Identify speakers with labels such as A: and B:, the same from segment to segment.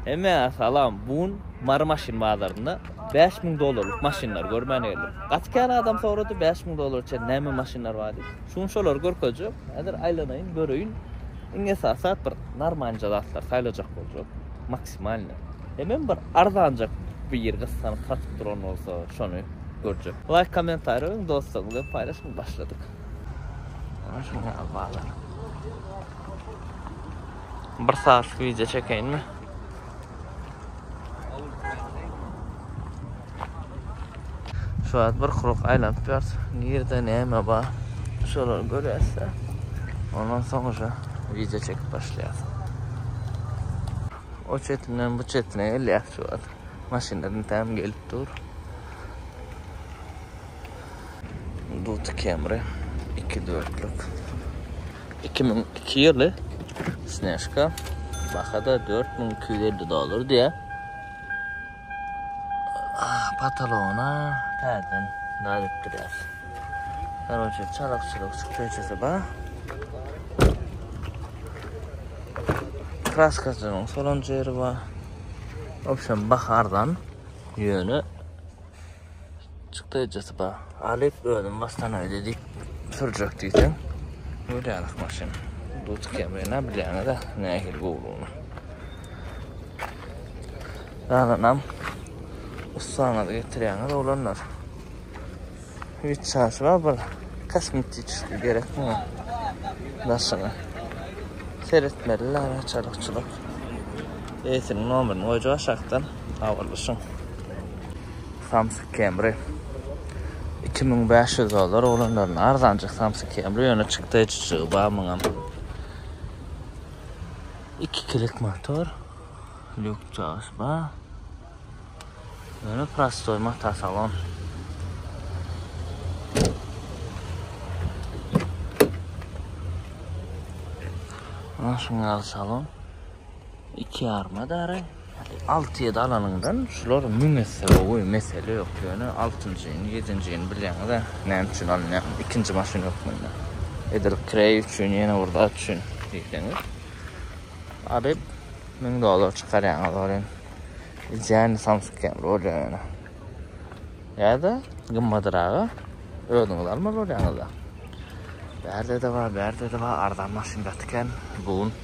A: Hemmäňe salam bugün Mary maşyn bazarynda bäş müň dollarlyk maşynlary görmäne geldim. Gaty kän adam sorady bäş müň dollara çen näme maşynlar bar diýip. Şu gün şolary görkezjek. Häzir aýlanaýyn göreýin. Iň esasy zat bir narmanca zatlary saýlajak boljak. Maksimalny. Hemem bir arzanjak bir ýeri gyssanyp satyp duran bolsa şony görjek. Laýk kommentariýa goýuň dostlaryňyz bilen paýlaşyň başladyk. Many şuňňa al bazar. Bir saatlik video çekeyin mi? Şu an bir krok aylanyp yar. Girde neyme ba? Şoları görüyorsa. Ondan sonra video çekip başlayar. O çetinden bu çetine geliyor şu an. Maşinlerin tam gelip dur. Duty Camry iki dörtlük. Iki müň iki ýyly. Snežka. Baha-da dört müň iki ýüz elli dollar diýýär. Ah, Patalogyna täzeden nädip durýar. Garoçe, çalakçylyk spreýçesi bar. Kraskasynyň solan jeri bar. Wobşem, baha arzan. Ýöne. Çykda ejesi ba. Alyp özüm bastanaýda diýip sürjek diýseň. Görýäňiz maşyn. Bu çykýar bu ýene bilýäňiz da nähili gowlugyny. Dalanam ussaňyzy getirýäňiz oglanlar. Hiç şansy bar bir kosmetiçki gerek muňa. Daşyna. Seretmeliler açarykçylyk. Eýsiniň nomerini goýjak aşakdan. Sagboluşyň. Samsung Camry. Iki müň bäş ýüz dollar oglanlaryň arzanjyk Samsung Camry ýöne çykda içjigi bar muňam. Iki kilik motor. Lük çagyş bar. Ýöne prostoý mata salon. Maşyn ýaly salon. Iki ýarma dary. Alty ýedi alanyňdan şular müň esse gowy mesele ýok ýöne altynjyny ýedinjini bilýäňizä näme üçin alynýar ikinji maşyn hökmünde edil kireý üçin ýene bir zat üçin diýseňiz alyp müň dollar çykarýaňyz oryn idýany samsyk bolýar ýöne ýa-da gymmadyraga özüňiz almaly bolýaňyzda bärde-de bar bärde-de bar arzan maşyn gaty kän bu gün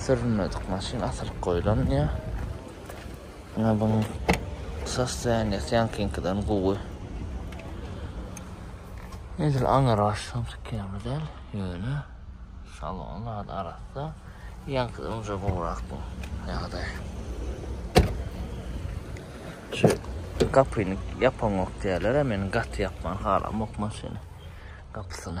A: Sürülmedik maşyn asylyp goýulan diýýä. Ýa buň sostoýaniýasy ýaňkyňkydan gowy. Edil aňyr aşyň tükemi däl, ýöne salon zat arassa. Ýaňkydan uje gowrak bu ýagdaý. Şu gapyny ýapaňok diýýärler-ä, men gaty ýapman halamok maşyny gapysyny.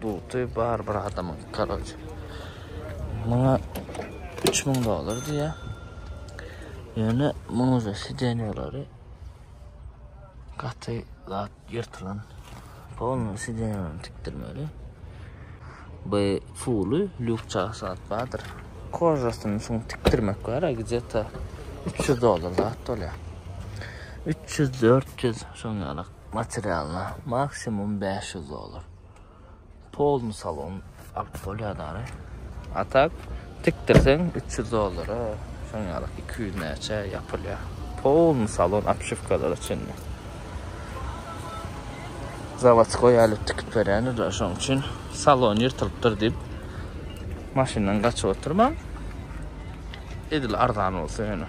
A: Duty bar bir adamyň koroce. Muňa 3000 dollar diýýär. Ýöne muňa sidenýalary gaty zat ýyrtylan. Polny sidenýalary tikdirmeli. Bu fuly lýukça zat bardyr. Kožasyny şuň tikdirmek bar, gideta 300 dollar zat bolýar. 300-400 şoň ýalak. Materialna maksimum bäş ýüz dollar. Polny salon alyp bolýar dary. A tak tikdirseň üç ýüz dollara şoň ýaly iki ýüz näçe ýapylýar. Polny salon apşywkalary çenli. Zawodskoý ýaly tikip berýändirler şoň üçin salon ýyrtylypdyr diýip maşyndan gaçyp oturmaň. Edil arzan bolsa ýöne.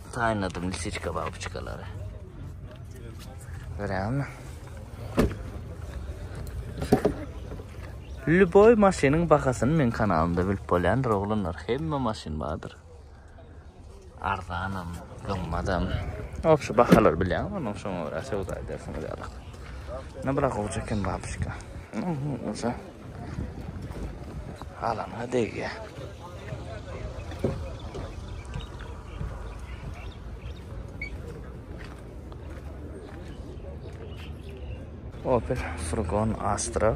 A: Taýynladym lisiçka babuçkalary. Görýäňmi? Lüboý maşynyň bahasyny men kanalymda bilip bolýandyr oglanlar. Hemme maşyn bardyr. Arzanam, gymmadam. Hop şu bahalar bilýän, onuň şoňa görä söwda edersiňiz ýaly. Ne bırak olacak hem babuşka. Olsa. Galanyna degýär. Opel Furgon Astra.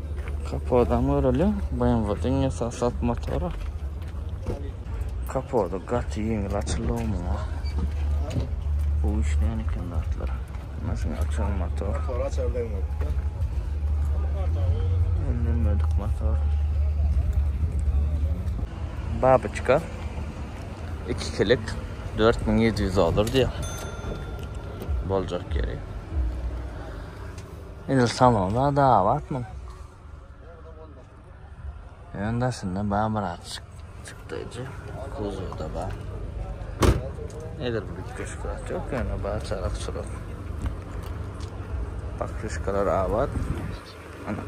A: Kapodam göreli. BMW-diň esas alt motory. Kapody gaty ýeňil açyldy muň. Bu işleýän eken zatlar. Maşyn açar motor. Motor açar
B: degme.
A: Öndürmedik motor. Babiçka. 2 kilik 4700 olur diýär. Boljak ýeri. Edil salonda adabatmy? Ön daşynda bar bir açyk çykdaýjy, kuzowda bar. Edil bir iki köşkürat ýok, ýöne bar çarak-çurak. Bakluşkalar abat. Ana.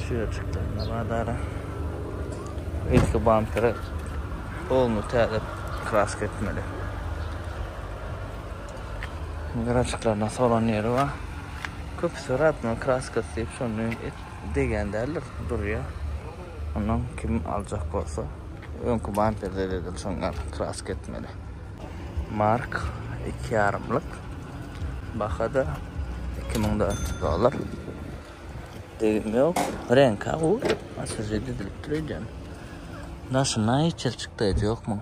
A: Şu ýer çykdaýjy bar dara. Ilki bampere. Ol mu täze krask etmeli. Grafiklerinden soran ýeri bar. Köpüsi Ratman kraskasy diýip şondan öň et degýän däldir, durýa. Ondan kim aljak bolsa, öňki bamper de edil şoň ýaly kraska etmeli. Mark iki ýarymlyk. Baha-da iki müň dört ýüz dollar. Degim ýok. Reňki-ä gowy. Açyjy düzülipdir öýdýän. Daşyndan hiç ýeri çykdaýjy ýok muň.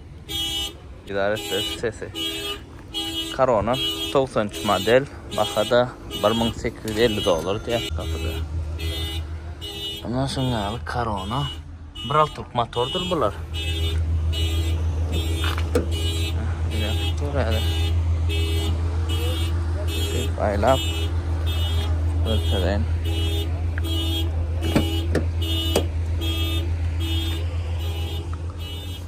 A: Sigaretler sesi. Korona togsan üç model, bahada bir müň sekiz ýüz elli dollar diýýär gapyda. Ynha şuň ýaly korona. Bir altlyk motordyr bular. Görýärler. Şeýdip aýlap görkezeýin.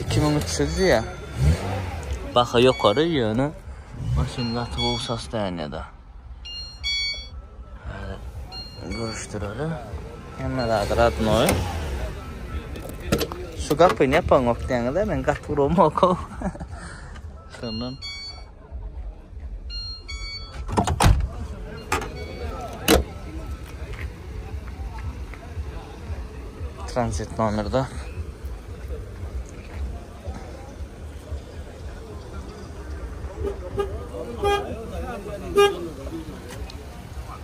A: Iki müň üç ýüz diýýär. Baha ýokary, ýöne maşyn gaty gowy sostoýanýada. Görüşdireli. Hemme zady radnoý. Şu gapyny ýapaňok diýýäňiz-ä, men gaty uramok-ow. Şondan Transit nomerde.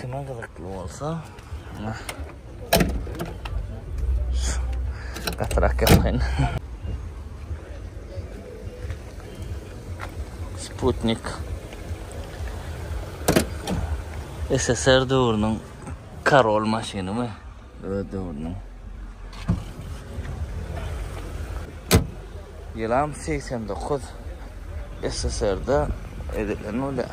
A: Kime gyzykly bolsa, ana. Gatrak ýapaýyn. Sputnik. SSR döwrüniň karol maşyny mı? Öz döwrüniň. Ýylam 89 SSR-de edilgen bolýar.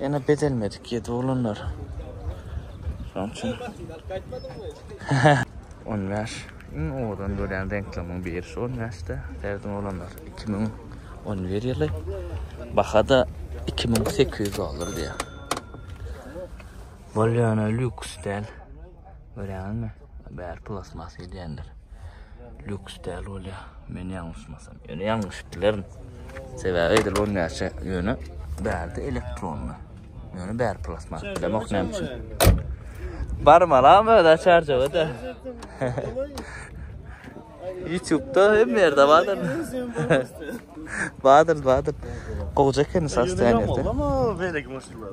A: Ýene bezelmedik ýedi oglanlar. Şonuň üçin. On bäş. Iň owadan görýän reňklerimiň biri şu on bäşde. Serediň oglanlar. Iki müň on bir ýyly. Baha-da iki müň sekiz ýüz dollar diýýär. Bolýana lýuks däl. Görýäňizmi? Bäri plastmas gelýändir. Lüks däl bolýa. Men ýalňyşmasam. Ýöne ýalňyşyp bilerin. Sebäbi edil on näçe ýöne bärde elektronly. Ýöne bäri plastmas. Bilemok näme üçin. Barmalam öde çarjawa da. YouTube-da hem ýerde bardyr. Bardyr, bardyr. Gowja ekeni sastýan ýerde. Olamaz, beýleki
B: maşynlar.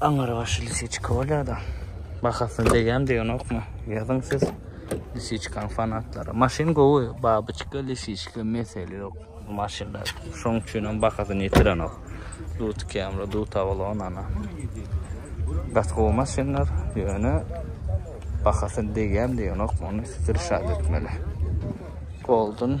A: Aňyr başy lisiçka bolýada. Bahasyny degem degenokmy? Ýazyň siz lisiçkaň fanatlary. Maşyn gowy, babyçka, lisiçka mesele ýok. Bu maşynda şoň üçin hem bahasyny ýetirenok. Dut Camry, Dut Avalon ana. Gaty gowy maşynlar, ýöne bahasyny degem degenokmy, ony siz rişad etmeli. Golden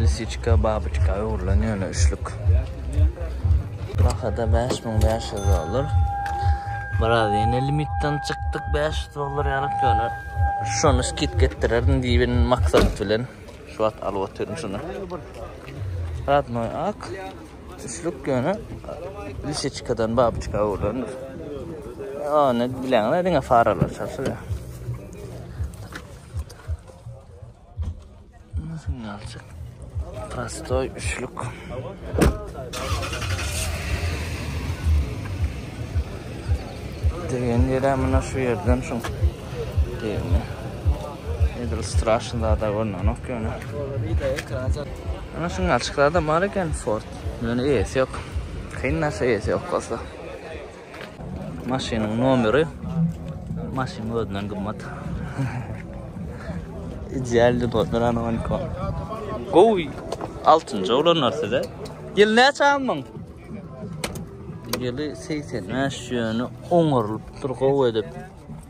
A: Lisiçka babyçka öwrülen ýöne üçlük. Bahada bäş müň bäş ýüz dollar. Biraz ýene limitden çykdyk bäş ýüz dollar ýalyk ýöne şony skidka etdirerdim diýibin maksat bilen şu wagt alyp otyryn şuny. Radnoý ak. Üçlük ýöne lişeçkadan babyçka öwrülendir. Ony bileňler diňe faralar çalşyr. Signalçyk. Prostoy üçlük. Degen ýere mena şu ýerden şu. Degen. Edil straşynda da görnenok ýöne. Ýa-da ekran Ana syngalçyklarda bar eken Ford. Ýöne eýesi ýok. Kyn nasa eýesi ýok bolsa. Maşynyň nomeri maşyn özünden gymmat. Idealny boldur ana onko. Gowy. Altynjy olanlar size. Ýyl näçe almyň? Ýyly 85 ýöne oňarylypdyr gowy edip.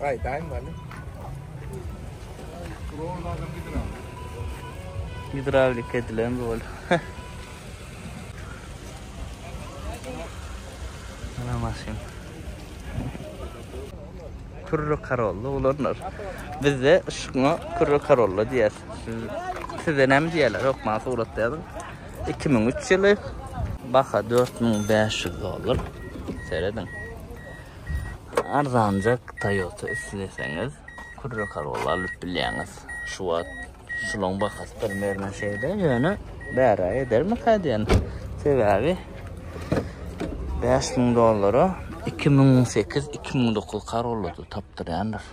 B: Gaýdaýyn bari.
A: Gidrawlik edilen rol. Ana maşyn. Kürrü karollu ulanır. Bizde şuna kürrü karollu diýer. Sizde näme diýerler? Ýok, maňa surat ýazyň. 2003 ýyly baha 4500 dollar. Serediň. Arzanjak Toyota isleseňiz Corolla Corolla alyp bilýäňiz. Şu wagt şulaň bahasy primerne şeýle, ýöne bära edermi diýen. Sebäbi 5000 dollara 2008-2009 Corolla tapdyrýandyr.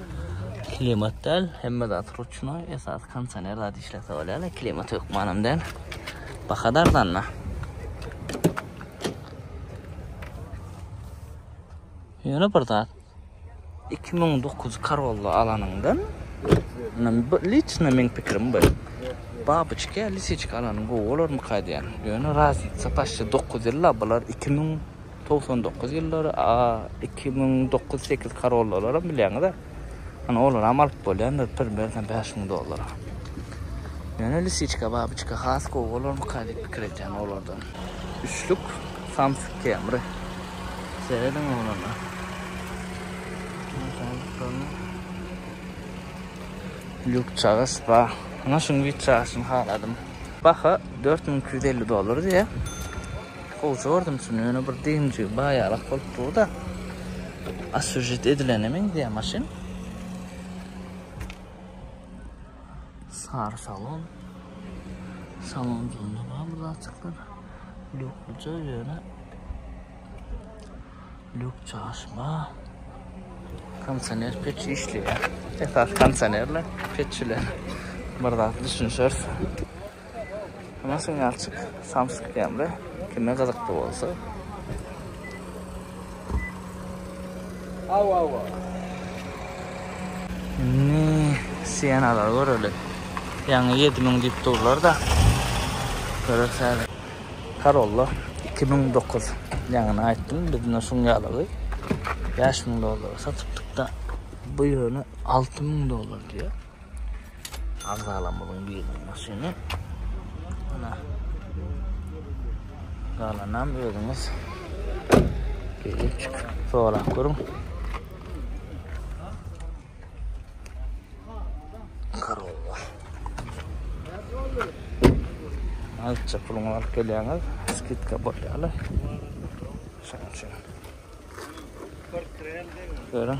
A: Klimat däl, hemme zat ruçnoý, esasy kondisioner zat işlese bolýar, klimat hökmanam däl. Baha arzanda. Ýöne bir zat. 2009 Corolla alanyňdan, men liçna men pikirim bar. Babyçka ýa lisiçka alanyň gowy bolarmyka diýýän. Ýöne razniýa başda 9 ýylla bular 2000 Togsan dokuz ýyllary a iki müň dokuz sekiz karollalaram bilýäňiz-ä. Ýöne olaram alyp bolýandyr bir bersem bäş müň dollara. Ýöne lisiçka, babyçka has gowy bolarmyka diýip pikir edýän olardan. Üçlük Samsung Camry. Serediň oglana. Lýuks çaga spa. Ana şuň wid çagasyny haladym. Baha dört müň iki ýüz elli dollar diýýär. Gowy gördüm şuny ýöne bir dynjygy baýalak bolup durda asýužet edilene meňzeýär maşyn. Sary salon. Salon durna bar bu zatçyklar. Lükçe ýöne lük çaşma. Kondisioner peç işleýär. Esas kondisionerler peçler. Bir zat düşünşeris. Ana synýalçyk samsyk diýemde kime gyzykly bolsa. Aw aw. Ne siýanalar göreli. Ýaňy 7000 diýip durlar da. Görersen. Karolla 2009. Ýaňyny aýtdym, bizde şuň ýalygy 5000 dollara satypdyk da. Bu ýöne 6000 dollar diýýär. Agzalamyzyň biriniň maşyny. Ana. Galanam özüňiz gelip çykyp sorap görüň. Karolla. Alça puluny alyp gelýäňiz, skidka bolýarlar. Şonuň üçin. Görüň.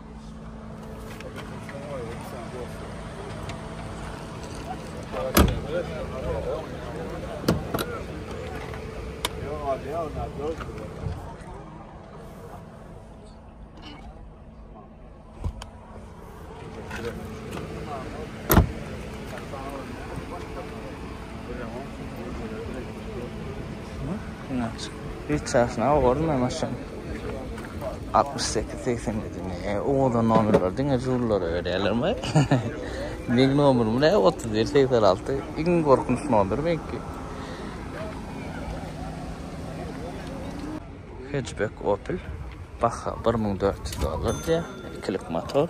A: Hiç sesini aw görme maşyn. Altmyş sekiz segsen ýedi ne owadan nomerler diňe jurlary berýärlermi meň nomerim ne otuz bir segsen alty iň gorkunç nomer meňki Hatchback Opel baha bir müň dört ýüz dollar diýýär ikilik motor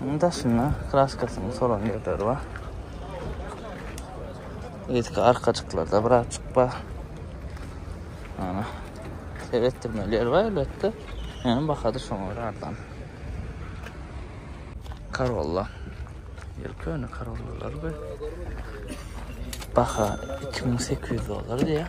A: Bunun daşynda kraskasyny soran ýerleri bar. Eski arkajyklarda bir açyk bar. Ana. Seretdirmeli ýer bar elbetde. Ýöne bahada şoňa görä ardan. Karolla. Ýer köne karollalar bu. Baha 2800 dollar diýýär.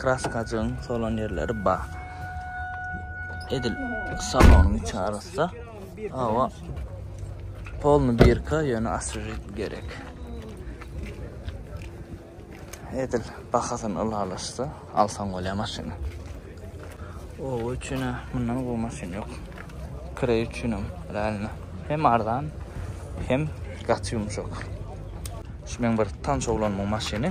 A: Kraskajygyň solan ýerleri bar. Edil salonyň içerisinde awa polny birka ýöne asryjyt gerek. Edil bahasyny ylalaşsa alsaň bolýar maşyny. Owa üçin mundan gowy maşyn ýok. Kireý üçin hem realno. Hem arzan, hem gaty ýumşak. Şu meň bir tanyş oglanymyň maşyny.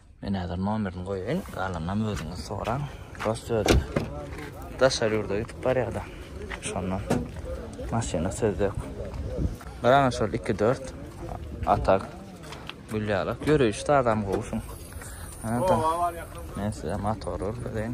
A: Men häzir nomerini goýaýyn, galanynam özüňiz soraň. Prosta özi daşary ýurda gidip barýar-da. Şondan maşyna söz ýok. Garaňa şol 2-4 atak gülýalak. Ýöreýişde adam gowy şuň. Hä, da. Men size motor görkezýän.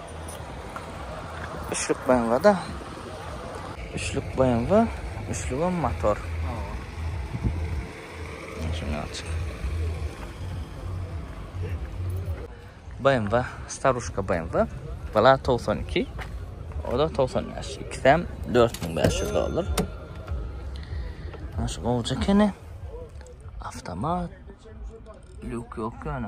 A: Üçlük BMW-da. Üçlük BMW, üçlügem motor. Maşyn açyk. BMW, staruşka BMW. Bala 92. O da 95. İkisem 4500 dolar. Şu olacak yine. Avtomat. Lük yok yani.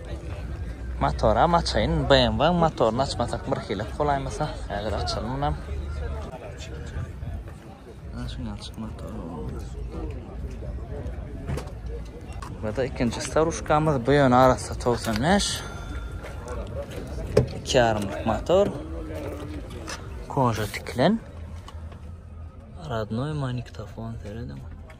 A: Motoram açaýyn BMW nyň motoryny açmasak birhili golaýmasa häzir açalym munam. Açyň açyk motory. Bada ikinji staruşkamyz bu ýöne arassa 95. Iki ýarymlyk motor. Koja tiklen. Radnoý magniktofon serediň.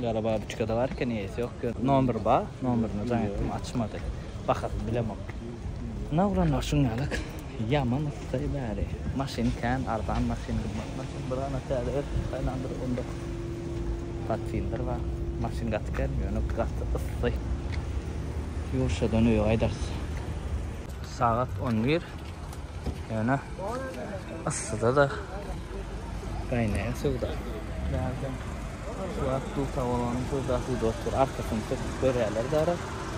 A: Gara babyçkada bar eken eýesi ýok ýöne nomeri bar nomerini jaň etdim açmady bahasyny bilemok Muna ulan maşyn ýalyk ýaman yssaý bäri maşyn kän arzan maşyn gymmat maşyn bir dana täze beripdir saýlandyryp on dokuz padsindr bar maşyn gaty kän ýöne gaty yssaý ýuwuşadan öýe gaýdarys sagat on bir. Ýöne yssyda da gaýnaýan suwda. Bägden şu wagt suw tagalanyň suwda suwda otur. Arkasyny söküp görýärler dara.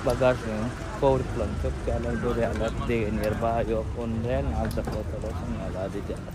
A: Bagažlygyň kowryklaryny sökýärler, görýärler degen ýer bar ýok. Ony näme aljak bolsalar şony alar diýýärler.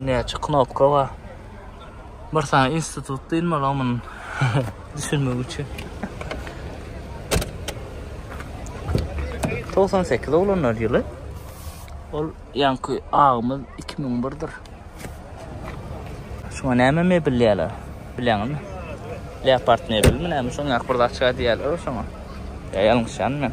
A: Näçe knopka bar? Bir sany institut değil mi lan bunun? Düşünmek üçin. 98 olanlar yılı. Ol yankı ağımız 2001'dir. Şuna näme mebel diýýärler? Bilýäňizmi? Leopard mebelmi näme? Şoň ýakyrda açyga diýýärler şoňa. Ýa ýalňyşýan men.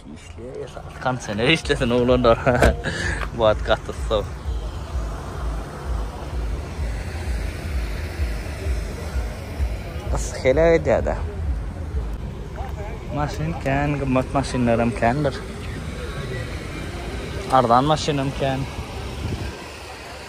A: Işleýär esasy kondisioner işlesin oglanlar. Bu at gaty sow. Ysgele edýär-de. Maşyn kän, gymmat maşynlar hem kändir. Arzan maşyn hem kän.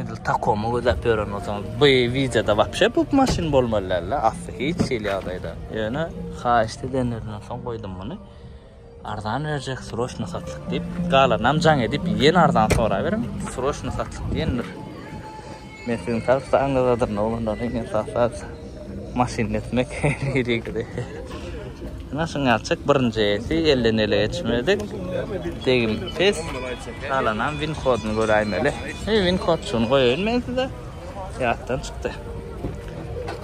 A: Edil takomu gözläp ýören bolsaňyz, bu wideoda wapşe bu maşyn bolmaly däldi, asly hiç hili ýagdaýda. Ýöne haýyşt edenlerinden soň goýdum muny. Arzan berjek, sroçno satlyk diýip, galanam jaň edip, ýene arzan soraberiň, sroçno satlyk diýendir. Men siziň tarapdagyňyzdadyr, oglanlaryň ýene sat-sat. Maşyn etmek nirigde. Ina şun ýalçak birinji eti elden ele geçmedik. Degim pes. Galanam win kodyny göräýmeli. He win kod şuny goýaýyn men size. Ýatdan çykdy.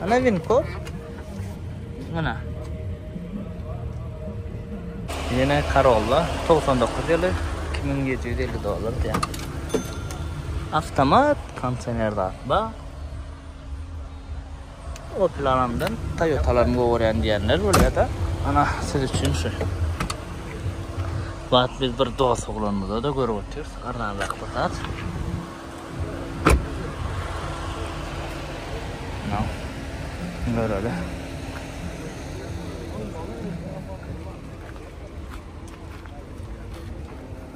A: Ana win kod. Mana. Ýene Corolla 99 ýyly 2750 dollar diýýär. Avtomat kondisioner zat bar. Opel alandan Toyota'larny gowarýan diýenler bolýar-da. Ana siz üçin şu. Wagt biz bir dost oglanymyza-da görüp otyrys. Arzanrak bir zat. No. Göreli.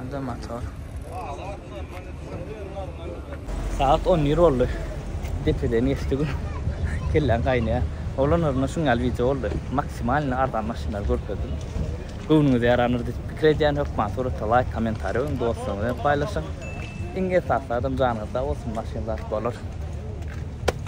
A: Onda motor. Saat 11 oldu. Depeden geçti gün. Kellen gaýnaya. Oglan orna şun ýaly video oldu. Maksimalny arzan maşynlary görkezdim. Göwnüňize ýarandyr diýip pikir edýän hökman suratda laýk kommentariý goýuň dostlaryňyz bilen paýlaşyň. Iň esasy adam janyňyz sag bolsun maşyn zat bolar.